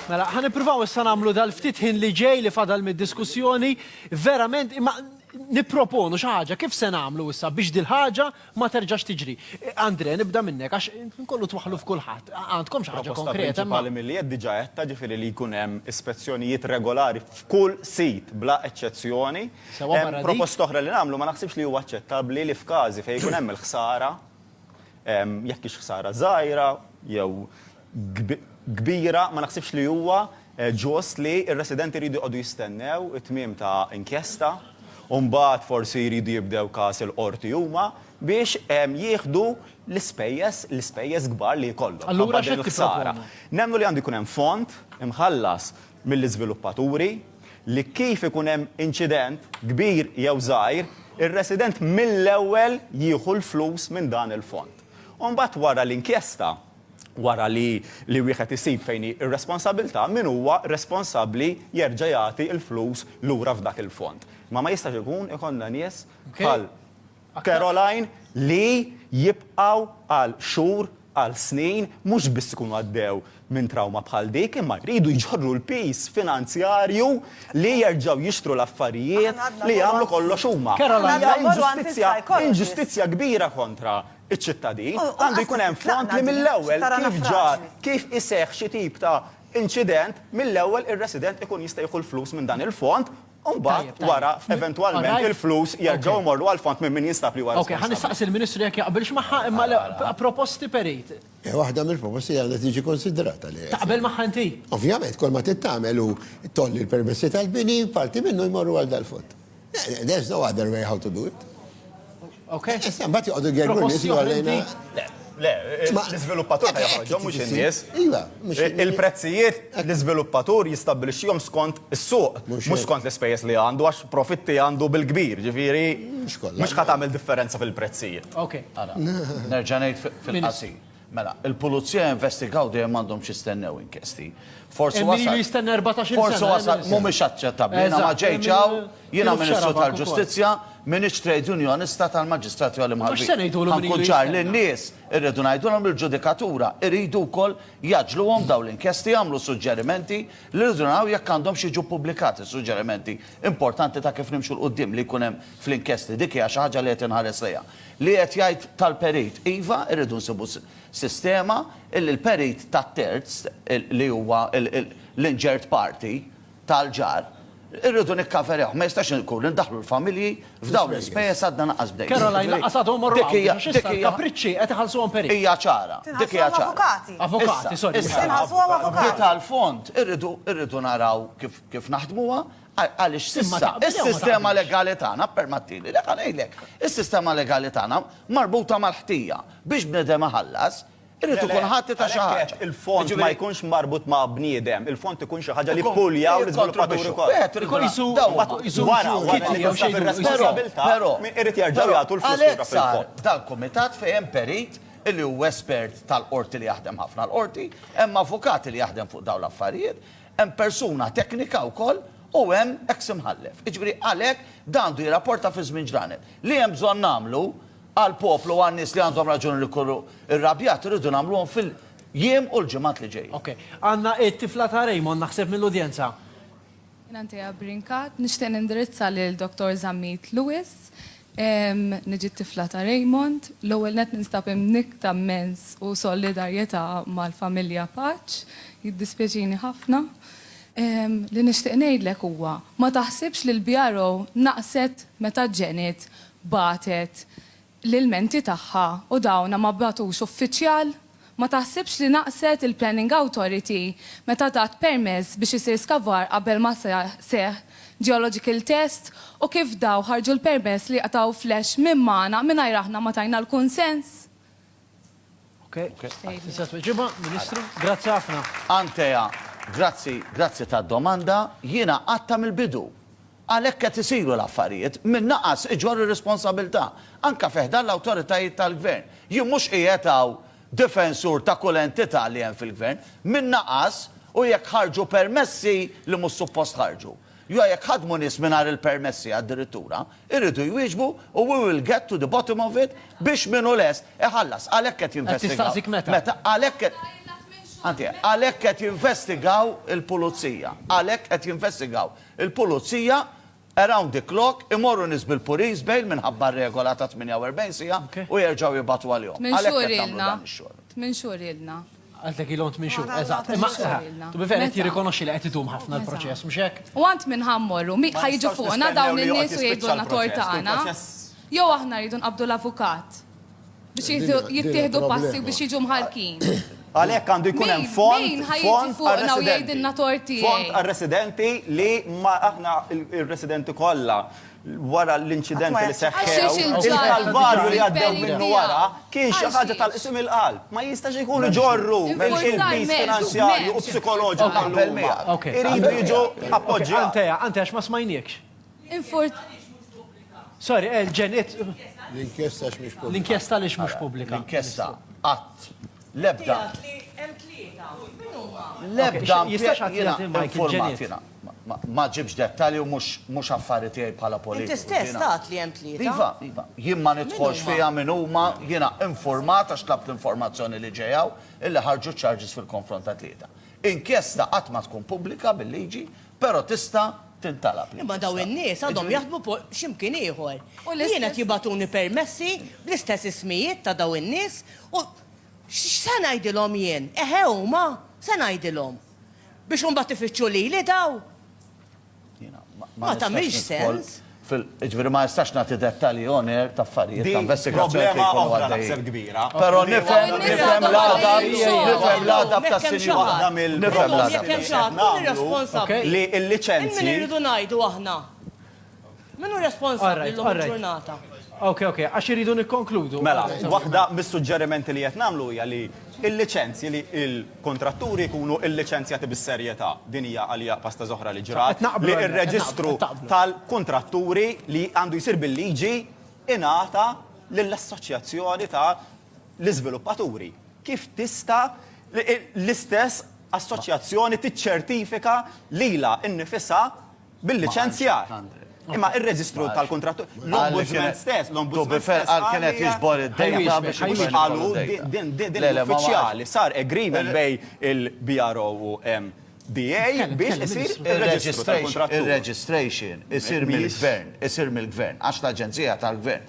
Mela, ħan nippruvaw issa nagħmlu dal-ftit ħin li ġej li fadal mid-diskussjoni, verament imma nipproponu xi ħaġa kif se nagħmlu issa biex dil-ħaġa ma terġax tiġri. Andre, nibda minnek għax nkollu twaħħlu f'kulħadd. Għandkom xi ħaġa konkreta? Proposta milli qed diġà qedta ġifieri li jkun hemm ispezzjonijiet regolari f'kull sit bla eċċezzjoni. Proposta oħra li nagħmlu ma naħsibx li huwa aċċettabbli li f'każi fejn ikun hemm il-ħsara, Jekk hix ħsara żgħira jew kbira, ma naħsibx li huwa ġust li r-residenti jridu jqogħdu jistennew it-tmiem ta' inkjesta u mbagħad forsi jridu jibdew każ il-Qorti huma biex jieħdu l-ispejjeż, l-ispejjeż kbar li jkollhom minħabba din il-ħsara. Nemmnu li għandu jkun hemm fond imħallas mill-iżviluppaturi li kif ikun hemm inċident, kbir jew żgħir, ir-resident mill-ewwel jieħu l-flus minn dan il-fond. U mbagħad wara l-inkjesta, wara li li wieħed isib fejn hi r-responsabilità, min huwa responsabbli jerġa' jagħti l-flus lura f'dak il-fond. Imma ma jistax ikun ikollna nies bħal. Caroline, li jibqgħu għal xhur, għal snin, mhux biss ikunu għaddew minn trawma bħal dik, imma jridu jġorru l-piż finanzjarju li jerġgħu jixtru l-affarijiet li jagħmlu kollox huma. Hija inġustizzja, inġustizzja kbira kontra ċ-ċittadin. Għandu jkun hemm fond li mill-ewwel kif ġar, kif iseħħ xi tip ta' inċident, mill-ewwel ir-resident ikun jista' jieħu l-flus minn dan il-fond, U mbagħad wara eventwalment il-flus jerġgħu jmorru għall-fond minn min jinstab li huwa responsabbli. Ok, ħa nistaqsi l-Ministru jekk jaqbilx magħha imma proposti perit. Waħda mill-proposti għandha tiġi konsidrata li. Taqbel magħha inti? Ovvjament, kull ma tittamel u tolli l-permessi tal-bini, parti minnu jmorru għal dal-fond. There's no other way how to do it. Ok? Issa, mbagħad joqogħdu jgergru nies jgħallejna. Le, l-iżviluppatur ta' joħroġhom mhux in-nies. Iva, il-prezzijiet l-iżviluppatur jistabbilixxihom skont is-suq, mhux skont l-ispejjeż li għandu għax profitti għandu bil-kbir, ġifieri mhux ħa tagħmel differenza fil-prezzijiet. Ok, ara. Nerġa' ngħid fil-qasir. Mela, il-pulizija jinvestigaw dejjem m'għandhomx jistennew inkjesti. Forsi wasal. Hemm min ilu jistenna erbatax-il sena. Forsi wasal mhumiex aċċettabbli. Jiena ma ġejtx hawn, jiena Ministru tal-Ġustizzja, m'iniex trade unionista tal-maġistrati għoli mħallbin. Ħankun ċar lin-nies, irridu ngħidulhom li l-ġudikatura iridu wkoll jgħaġġluhom dawn l-inkjesti, jagħmlu suġġerimenti li rridu naraw jekk għandhomx jiġu ppubblikati suġġerimenti importanti ta' kif nimxu 'l quddiem li jkun hemm fl-inkjesti. Dik hija xi ħaġa li qed inħares lejha. Li qed jgħid tal-perit? Iva, irridu nsibu sistema illi l-perit tat-terz, li huwa l-injured party tal-ġar, irridu nikkaverjawh. Ma jistax ikun li ndaħħlu l-familji f'dawn l-ispejjeż għadna lanqas bdejna. Caroline, lanqas għadhom morru hawn biex għax issa l-kapriċċi qed iħallsuhom perit. Hija ċara. Dik hija ċara. Tinħallsuhom avukati. Avukati, sorry. Tinħallsuhom avukati. Issa, b'dita l-fond, irridu naraw kif naħdmuha. Għaliex s'issa s-sistema legali tagħna, ppermattili, le ħa ngħidlek, is-sistema legali tagħna marbuta mal-ħtija. Biex bniedem iħallas, irid ikun ħati ta' xi ħaġa. Għalhekk qed il-fond ma jkunx marbut ma' bniedem, il-fond ikun xi ħaġa li ppuljaw l-iżviluppaturi kollha. Ikun qisu wara, wara li tinsab ir-responsabbiltà, irid jerġgħu jagħtu l-flus lura fil-fond. Għalhekk sar dal-kumitat fejn hemm perit li hu espert tal-qorti li jaħdem ħafna l-qorti, hemm avukat li jaħdem fuq dawn l-affarijiet, Hemm persuna teknika wkoll u hemm eks imħallef. Jiġifieri għalhekk dan għandu jirrapporta fi żmien ġranet. Li hemm bżonn nagħmlu għall-poplu u għan-nies li għandhom raġuni li jkunu rrabjati rridu nagħmluhom fil-jiem u l-ġimgħat li ġejjin. Ok. Għandna t-tifla ta' Raymond naħseb mill-udjenza. Jien Antea Brincat, nixtieq nindirizza lil Dottor Zammit Lewis. Niġi t-tifla ta' Raymond. L-ewwel nett ninstab imnikkta mmens u solidarjetà mal-familja Paċ. Jiddispjaċini ħafna. Li nixtieq ngħidlek huwa, ma taħsibx li l-BRO naqset meta Janet bagħtet l-ilmenti tagħha u dawn ma bagħtux uffiċjal? Ma taħsibx li naqset il-Planning Authority meta tat permess biex isir skavar qabel ma seħħ geological test u kif daw ħarġu l-permess li qtgħu flash minn magħna mingħajr aħna ma tajna l-kunsens? Ok, tista' tweġibha, Ministru? Grazzi ħafna. Antea, grazzi, grazzi tad-domanda. Jiena għadtha mill-bidu. Għalhekk qed isiru l-affarijiet minn naqas iġorr ir-responsabilità, anke fi ħdan l-awtoritajiet tal-Gvern. Jien mhux qiegħed hawn difensur ta' kull entità li hemm fil-Gvern. Minn naqas u jekk ħarġu permessi li mhux suppost ħarġu, jew jekk ħadmu nies mingħajr il-permessi addirittura, iridu jwieġbu u we will get to the bottom of it biex min hu lest iħallas. Għalhekk qed jinvestigaw, meta, għalhekk qed, anzi, għalhekk qed jinvestigaw il-Pulizija, għalhekk qed jinvestigaw Il-Pulizija, around the clock, imorru nies bil-police bail minħabba r-regola ta' 48 siegħa u jerġgħu jibagħtu għalihom. Għalhekk qed nagħmlu dan ix-xogħol. Tmien xhur ilna. Qaltlek ilhom tmien xhur, eżatt. Imma, to be fair, qed jirrikonoxxi li qed idum ħafna l-proċess, mhux hekk? U għand min ħa mmorru? Ħa jiġu fuqna dawn in-nies u jgħidulna tort tagħna? Jew aħna rridu nqabbdu l-avukat? Biex jieħdu- jittieħdu Din passi il-problema. biex jiġu mħarkin. Għalhekk għandu jkun hemm Min- fond min ħajjiġi fond fuqna u għar-residenti. jgħidilna tort tiegħi? Fond għar-residenti li ma aħna il- il-residenti kollha wara l-inċidenti li Għax seħħew, il-ġarr il-kalvarju li għaddew il-peri minnu tiegħu. wara kien xi Għax ħaġa jiex? tal-qsim il-qalb. Ma jistax ikun iġorru Infurzar il-pis m'hemmx, finanzjarju u m'hemmx. psikoloġiku Ok, tal-luma. ok. Iridu jiġu appoġġjati. Anteja, anteja, għax ma smajniekx. Sorry, eh, ġen, it. L-inkjesta għax mhix pubblika. L-inkjesta għaliex mhux pubblika. L-inkjesta qatt l-ebda. L-ebda jistax jiena informat jiena. Ma ġibx dettalji u mhux affarijiet tiegħi bħala politika. Inti stess tat li hemm tlieta. Iva, iva, jien ma nidħolx fiha minn huma jiena informat għax tlab l-informazzjoni li ġejjaw illi ħarġu charges fil-konfront ta' tlieta. Inkjesta qatt ma tkun pubblika bil-liġi Però tista' tintalab. Imma dawn in-nies għadhom jaħdmu x'imkien ieħor. Jien qed jibagħtuni permessi bl-istess ismijiet ta' dawn in-nies u x'se ngħidilhom jien? Eħe huma? Se ngħidilhom? Biex imbagħad ifittxu lili dawn? Ma tagħmilx sens. Fil, jiġifieri ma nistax nagħti dettalji on air ta' affarijiet ta' investigazzjoni li jkunu għaddejjin. Però nifhem, nifhem l-għadab, nifhem l-għadab tas-sinjura. Nifhem l-għadab tas-sinjura. Li l-liċenzji. Min irridu ngħidu aħna? Min hu responsabbli llum il-ġurnata? Okej, okej, għax irridu nikkonkludu. Mela, waħda mis-suġġerimenti li qed nagħmlu hija li l-liċenzji li l. kontratturi jkunu lliċenzjati bis-serjetà. Din hija għalija pasta zoħra li ġrat li r-reġistru tal-kuntratturi li għandu jsir bil-liġi ingħata lill-assoċjazzjoni ta' l-iżviluppaturi. Kif tista' l-istess assoċjazzjoni tiċċertifika lilha nnifisha bil-liċenzjar. Imma ir-reġistru tal-kuntratturi, l-Ombudsman stess, l-Ombudsman stess. Għal kien qed jiġbor id-dejta biex ikun qalu din l-uffiċjali sar agreement bejn il-BRO u MBA biex isir ir-reġistru tal-kuntratturi. Ir-registration isir mill-gvern, isir mill-gvern, għax l-aġenzija tal-gvern.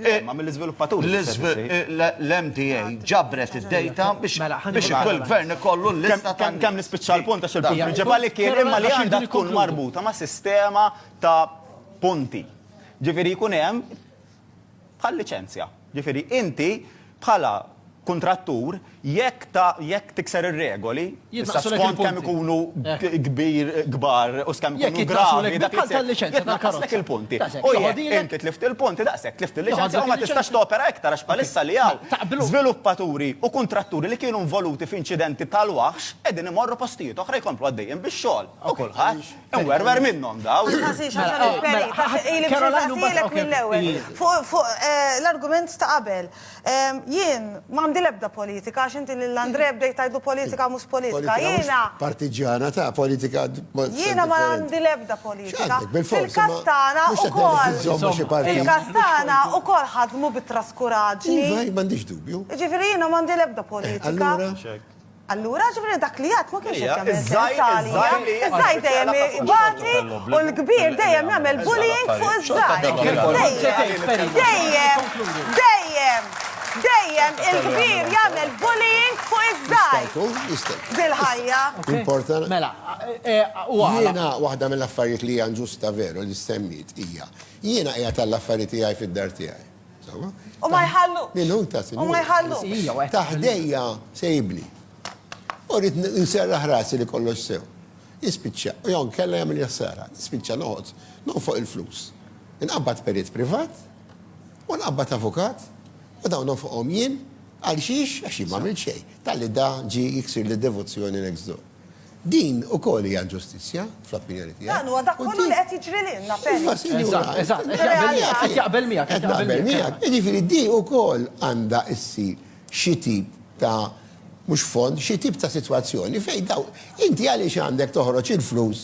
Eh, ma mill-izviluppatur. L-MDA ġabret id-data biex mela, kull gvern ikollu l-lista ta' kemm nispiċċa l-punt għax il-punt prinċipali kien imma li għandha tkun marbuta ma' sistema ta' punti. Ġifieri jkun hemm bħal liċenzja. Ġifieri inti bħala kuntrattur, jekk ta, jekk tikser ir-regoli, issa skont kemm ikunu kbir, kbar u skemm ikunu gravi, dak li tkun liċenzja tal-karozza. il-punti. U jekk inti tlift il-punti, daqshekk tlift il-liċenzja u ma tistax topera iktar għax bħalissa li hawn żviluppaturi u kuntratturi li kienu involuti f'inċidenti tal-waħx qegħdin imorru postijiet oħra jkomplu għaddejjin bix-xogħol u kulħadd Wer, wer minnom daw. Fuq eh, l-argument ta' qabel. Jien, mandi lebda politika, għax inti l-Andre bdejt tajdu politika mus politika. Jiena. Partiġana ta' politika. Jiena ma għandi lebda politika. Fil-kastana u kol. Fil-kastana u kol ħadmu bit-traskuraġni. Iva, mandiġ dubju. Ġifiri jiena mandi lebda eh, politika. Allura, jiġifieri dak li jgħadd ma kienx qed jagħmel sens għalija. Iż-żgħir dejjem ibati u l-kbir dejjem jagħmel bullying fuq iż-żgħir. Dejjem, dejjem, dejjem, dejjem il-kbir jagħmel bullying fuq iż-żgħir. Dil-ħajja. Mela, u għala? Jiena waħda mill-affarijiet li hija inġusta veru li ssemmiet hija, jiena qiegħed għall-affari tiegħi fid-dar tiegħi. U ma jħallu. Minu ta' sinjur. U ma jħallu. Ta' ħdejja se jibni. U rrit nserraħ rasi li kollox sew. Jispiċċa, u jon kella jagħmel jassara, jispiċċa noqgħod, noqgħod fuq il-flus. Inqabbad perit privat, u nqabbad avukat, u dawn fuqhom jien, għal xiex, għax jien ma' xejn. Talli da ġi jiksir li devozzjoni next door. Din ukoll hija inġustizzja, fl-opinjoni tiegħi. Dan huwa dak kollu li qed jiġri lilna, Penny. Eżatt, eżatt, qed jaqbel miegħek, qed jaqbel miegħek. Qed naqbel miegħek. Jiġifieri di ukoll għandha ssir xi tip ta' mhux fond, xi tip ta' sitwazzjoni fejn dawn, inti għaliex għandek toħroġ il-flus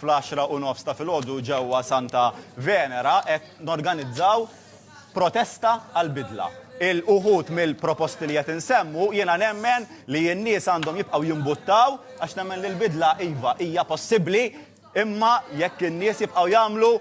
fl-għaxra u nofs ta' filgħodu ġewwa Santa Venera qed norganizzaw protesta għall-bidla. Il-uħud mill-proposti li qed insemmu jiena nemmen li n-nies għandhom jibqgħu jimbuttaw għax nemmen li l-bidla iva hija possibbli imma jekk in-nies jibqgħu jagħmlu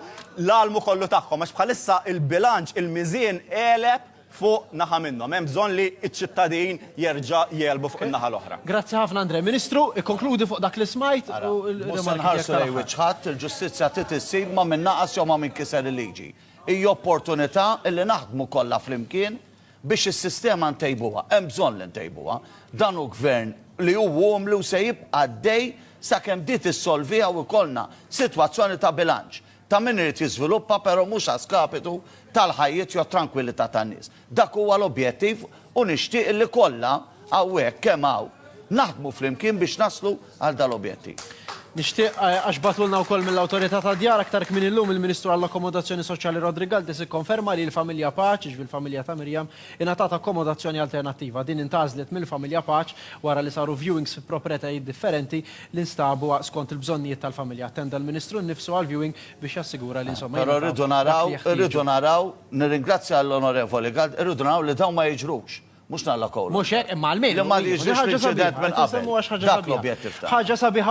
l-almu kollu tagħhom għax bħalissa l-bilanċ il-miżien għeleb fuq naħa minnhom. Hemm bżonn li ċ-ċittadin jerġa' jegħlbu fuq in-naħa l-oħra. Grazzi ħafna Andrè. Ministru, ikkonkludi fuq dak li smajt u l-rimarki tiegħek tal-aħħar. Ara, mhux se nħarsu lejn wiċċ ħadd, il-ġustizzja trid issir ma' min naqas jew ma' min kiser il-liġi. Hi opportunità li naħdmu kollha flimkien biex is-sistema ntejbuha. Hemm bżonn li ntejbuha. Dan hu Gvern li hu umli u se jibqa' għaddej sakemm di tissolviha u jkollna sitwazzjoni ta' bilanċ. ta' min irid jiżviluppa però mhux a skapitu tal-ħajjiet jew trankwillità tan-nies. Dak huwa l-objettiv u nixtieq li kollha hawnhekk kemm hawn naħdmu flimkien biex naslu għal dal-objettiv. Nixtieq, għax bagħtulna wkoll mill-Awtorità tad-Djar aktar kmieni llum, il-Ministru għall-Akkomodazzjoni Soċjali Rodri Galdes ikkonferma li l-familja Paċ, jiġifieri l-familja ta' Miriam, Ingħatat akkomodazzjoni alternattiva. Din intgħażlet mill-familja Paċ wara li saru viewings fi propretajiet differenti li nstabu skont il-bżonnijiet tal-familja. Attenda l-Ministru nnifsu għall-viewing biex jassigura li insomma jingħataw dak li jeħtieġu. Però rridu naraw, rridu naraw, nirringrazzja lill-Onorevoli Gard, irridu naraw li dawn ma jiġrux. Mhux nallakowlhom. Mhux hekk, imma almenu. Li ma jiġrix l-inċident minn qabel. Dak l-objettiv tagħna.